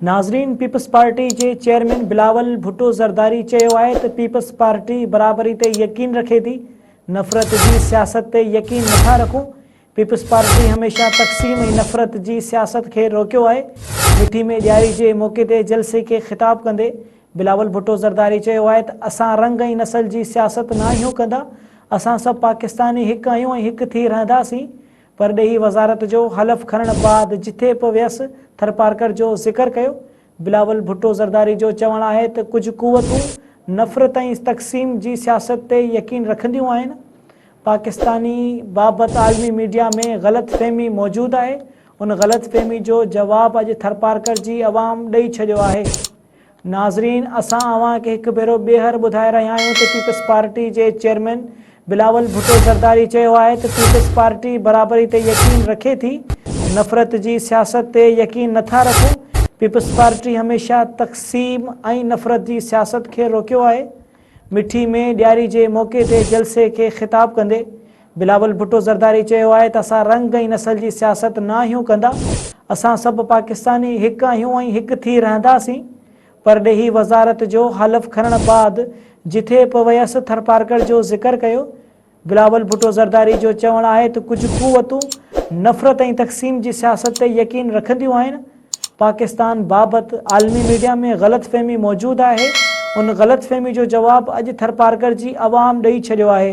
ناظرين Peoples Party جي chairman Bilawal Bhutto Zardari چيو آهي ته پيپلز پارٽي برابري تي يقين رکي ٿي نفرت جي سياست تي يقين نٿا رکون پيپلز پارٽي هميشه تقسيم ۽ نفرت جي سياست کي روڪيو آهي مٺي ۾ ڏياري جي موقعي تي جلسي کي خطاب ڪندي بلاول ڀٽو زرداري چيو آهي ته اسان رنگ ۽ نسل جي سياست ناهيون ڪندا اسان سڀ پاڪستاني هڪ آهيون ۽ هڪ ٿي رهنداسين پرڏيهي وزارت جو حلف کڻڻ بعد جٿي به ويس ٿرپارڪر جو ذڪر ڪيو، بلاول ڀٽو زرداري جو چوڻ آهي ته ڪجهه قوتون نفرت ۽ تقسيم جي سياست تي يقين رکنديون آهن، پاڪستاني بابت عالمي ميڊيا ۾ غلط فهمي موجود آهي، ان غلط فهمي جو جواب اڄ ٿرپارڪر جي عوام ڏئي ڇڏيو آهي. ناظرين اسان اوهان کي هڪ ڀيرو ٻيهر ٻڌائي رهيا آهيون ته پيپلز پارٽي جي چيئرمين بلاول ڀٽو زرداري چيو آهي ته پيپلز پارٽي برابري تي يقين رکي ٿي نفرت جي سياست تي يقين نٿا رکون پيپلز پارٽي هميشه تقسيم ۽ نفرت جي سياست کي روڪيو آهي مٺي ۾ ڏياري جي موقعي تي جلسي کي خطاب ڪندي بلاول ڀٽو زرداري چيو آهي ته اسان رنگ ۽ نسل جي سياست ناهيون ڪندا، اسان سڀ پاڪستاني هڪ آهيون ۽ هڪ ٿي رهنداسين. پرڏيهي وزارت جو حلف کڻڻ بعد جٿي پ ويس ٿرپارڪر جو ذڪر ڪيو بلاول ڀٽو زرداري جو چوڻ آهي ته ڪجهه قوتون نفرت ۽ تقسيم جي سياست تي يقين رکنديون آهن، پاڪستان بابت عالمي ميڊيا ۾ غلط فهمي موجود آهي، ان غلط فهمي جو جواب اڄ ٿرپارڪر جي عوام ڏئي ڇڏيو آهي.